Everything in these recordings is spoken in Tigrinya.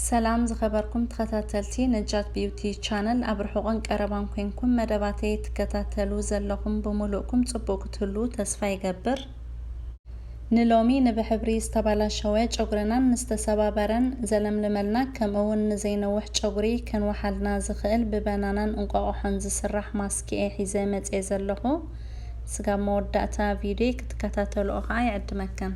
ሰላም ዝኸበርኩም ተኸታተልቲ ነጃት ቢዩቲ ቻነል ኣብ ርሑቕን ቀረባን ኮንኩም መደባተይ ትከታተሉ ዘለኹም ብሙሉእኩም ጽቡቕ ክትህልዉ ተስፋ ይገብር። ንሎሚ ንብሕብሪ ዝተባላሸወ ጨጉርናን ንዝተሰባበረን ዘለምልመልና ከምእውን ንዘይነውሕ ጨጉሪ ከንውሓልና ዝኽእል ብበናናን እንቋቑሖን ዝስራሕ ማስክ እየ ሒዘ መጽየ ዘለኹ ስጋብ መወዳእታ ቪድዮይ ክትከታተልኦ ከኣ ይዕድመከም።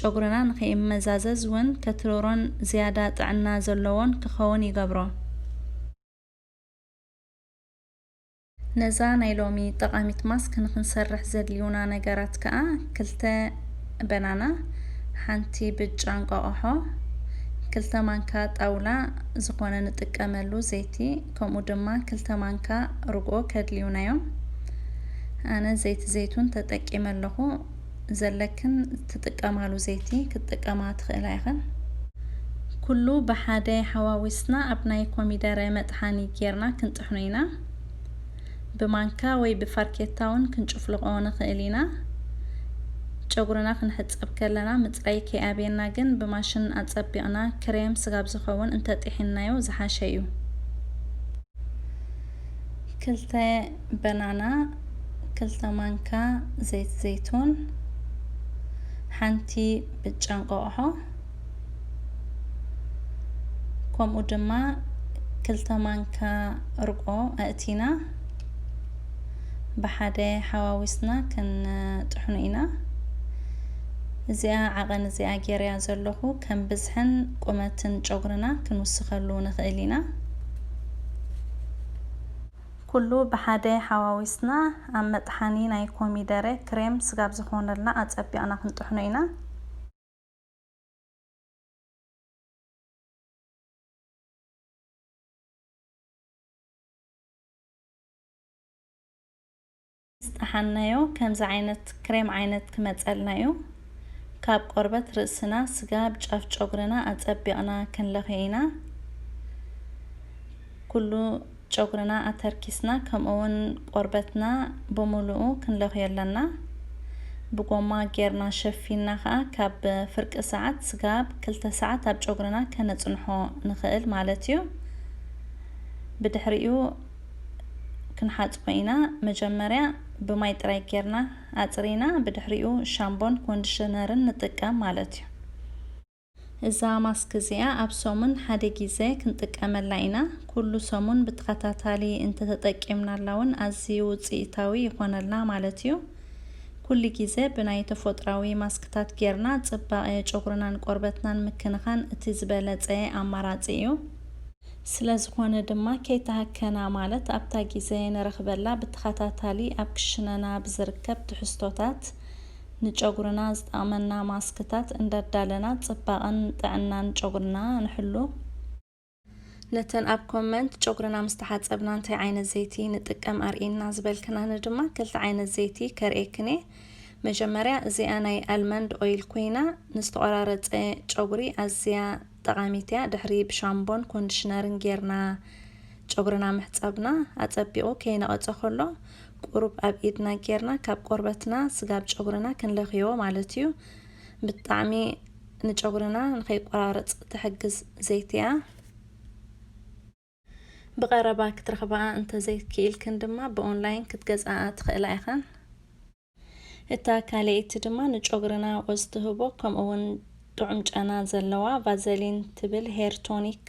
ጨጉርና ንኸይመዛዘዝ ውን ከትርሮን ዝያዳ ጥዕና ዘሎዎን ክኸውን ይገብሮ። ነዛ ናይ ሎሚ ጠቓሚት ማስክ ንኽንሰርሕ ዘድልዩና ነገራት ከኣ ክልተ በናና፣ ሓንቲ ብጫ እንቋቋሖ፣ ክልተ ማንካ ጣውላ ዝኾነ ንጥቀመሉ ዘይቲ ከምኡ ድማ ክልተ ማንካ ርግኦ ከድልዩና ዮም። ኣነ ዘይቲ ዘይቱን ተጠቂመ ኣለኹ። ዘለክን ትጥቀማሉ ዘይቲ ክትጥቀማ ትኽእላ ኢኽን። ኩሉ ብሓደ ሓዋዊስና ኣብ ናይ ኮሚደረ መጥሓኒ ጌርና ክንጥሕኖ ኢና። ብማንካ ወይ ብፋርኬታ ውን ክንጭፍልቖ ንኽእል ኢና። ጨጉርና ክንሕጸብ ከለና ምጽራይ ከይኣብየና ግን ብማሽን ኣጸቢቕና ክሬም ስጋብ ዝኸውን እንተጢሒንናዮ ዝሓሸ ዩ። ክልተ። በናና ክልተ ማንካ ዘይት ዘይቱን ሓንቲ ብጫ እንቆቕሖ ከምኡ ድማ ክልተ ማንካ እርቆ ኣእቲና ብሓደ ሓዋዊስና ክንጥሕኑ ኢና እዚኣ ዓቐን እዚኣ ጌርያ ዘለኹ ከም ብዝሕን ቁመትን ጨጉርና ክንውስኸሉ ንኽእል ኢና ኩሉ ብሓደ ሓዋዊስና ኣብ መጥሓኒ ናይ ኮሚደረ ክሬም ስጋብ ዝኾነልና ኣጸቢቕና ክንጥሕኖ ኢና። ዝጠሓንናዮ ከምዚ ዓይነት ክሬም ዓይነት ክመጸልና እዩ ካብ ቆርበት ርእስና ስጋብ ጫፍ ጨጉርና ኣጸቢቅና ክንለክዮ ኢና ኩሉ ጨጉርና ኣተርኪስና ከምኡ ውን ቆርበትና ብሙሉኡ ክንለክዮ ኣለና ብጎማ ጌርና ሸፊንና ከኣ ካብ ፍርቂ ሰዓት ስጋብ ክልተ ሰዓት ኣብ ጨጉርና ከነጽንሖ ንክእል ማለት እዩ ብድሕሪኡ ክንሓጽቦ ኢና መጀመርያ ብማይ ጥራይ ጌርና ኣጽሪና ብድሕሪኡ ሻምቦን ኮንድሽነርን ንጥቀም ማለት እዩ። እዛ ማስክ እዚኣ ኣብ ሰሙን ሓደ ጊዘ ክንጥቀመላ ኢና ኩሉ ሰሙን ብተኸታታሊ እንተተጠቂምናላ ውን ኣዝዩ ውጽኢታዊ ይኾነልና ማለት እዩ። ኩሉ ጊዘ ብናይ ተፎጥራዊ ማስክታት ጌርና ጽባቐ ጨጉርናን ቆርበትናን ምክንኻን እቲ ዝበለጸ ኣማራጺ እዩ። ስለዝኾነ ድማ ከይተሃከና ማለት ኣብታ ጊዘ ንረኽበላ ብተኸታታሊ ኣብ ክሽነና ብዝርከብ ትሕዝቶታት ንጨጉርና ዝጠቕመና ማስክታት እንዳዳለና ፅባቐን ጥዕናን ጨጉርና ንሕሉ። ነተን ኣብ ኮመንት ጨጉርና ምስ ተሓፀብና እንታይ ዓይነት ዘይቲ ንጥቀም ኣርእይና ዝበልክናኒ ድማ ክልተ ዓይነት ዘይቲ ከርእየክን እየ። መጀመርያ እዚኣ ናይ ኣልመንድ ኦይል ኮይና ንዝተቖራረፀ ጨጉሪ ኣዝያ ጠቓሚት እያ ድሕሪ ብሻምቦን ኮንድሽነርን ጌርና ጨጉርና ምሕጻብና ኣጸቢቑ ከይነቐጸ ከሎ ቁሩብ ኣብ ኢድና ጌርና ካብ ቆርበትና ስጋብ ጨጉርና ክንለኽዮ ማለት እዩ ብጣዕሚ ንጨጉርና ንኸይቆራረጽ ትሕግዝ ዘይቲ እያ። ብቐረባ ክትረኽባኣ እንተዘይክኢልክን ድማ ብኦንላይን ክትገዝኣኣ ትኽእላ ኢኽን። እታ ካልኤይቲ ድማ ንጮግርና ወዝ ትህቦ ከምኡ ውን ጥዑም ጨና ዘለዋ ቫዘሊን ትብል ሄር ቶኒክ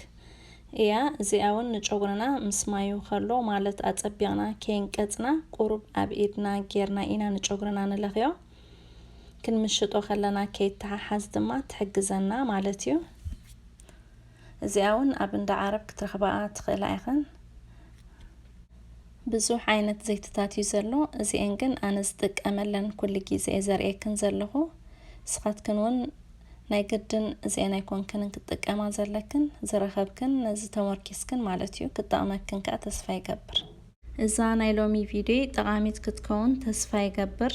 እያ እዚኣ ውን ንጮግርና ምስ ማዩ ከሎ ማለት ኣጸቢቕና ከይንቀጽና ቁሩብ ኣብ ኢድና ጌርና ኢና ንጮግርና ንለኽዮ ክንምሽጦ ከለና ከይተሓሓዝ ድማ ትሕግዘና ማለት እዩ። እዚኣ ውን ኣብ እንዳ ዓረብ ክትረኽባኣ ትኽእላ ኢኽን። ብዙሕ ዓይነት ዘይትታት እዩ ዘሎ እዚኤን ግን ኣነ ዝጥቀመለን ኩሉ ግዜ እየ ዘርእየክን ዘለኹ ንስኻትክን እውን ናይ ግድን እዚኤን ኣይኮንክንን ክትጥቀማ ዘለክን ዝረኸብክን ነዚ ተሞርኪስክን ማለት እዩ ክጠቕመክን ከኣ ተስፋ ይገብር። እዛ ናይ ሎሚ ቪድዮይ ጠቓሚት ክትከውን ተስፋ ይገብር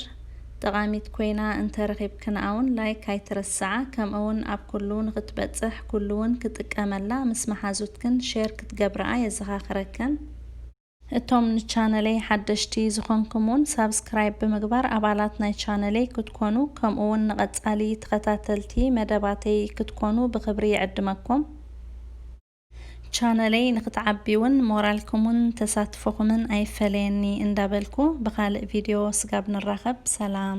ጠቓሚት ኮይና እንተ ረኺብክንኣ ውን ላይክ ኣይትረስዓ ከምኡ ውን ኣብ ኩሉ ንኽትበጽሕ ኩሉ ውን ክጥቀመላ ምስ መሓዙትክን ሼር ክትገብርኣ የዘኻኽረክን። እቶም ንቻነለይ ሓደሽቲ ዝኾንኩም ውን ሳብስክራይብ ብምግባር ኣባላት ናይ ቻነለይ ክትኮኑ ከምኡ ውን ንቐጻሊ ተኸታተልቲ መደባተይ ክትኮኑ ብኽብሪ ይዕድመኩም። ቻነለይ ንክትዓቢ እውን ሞራልኩምን ተሳትፎኹምን ኣይፈለየኒ እንዳበልኩ ብኻልእ ቪድዮ ስጋብ ንራኸብ ሰላም።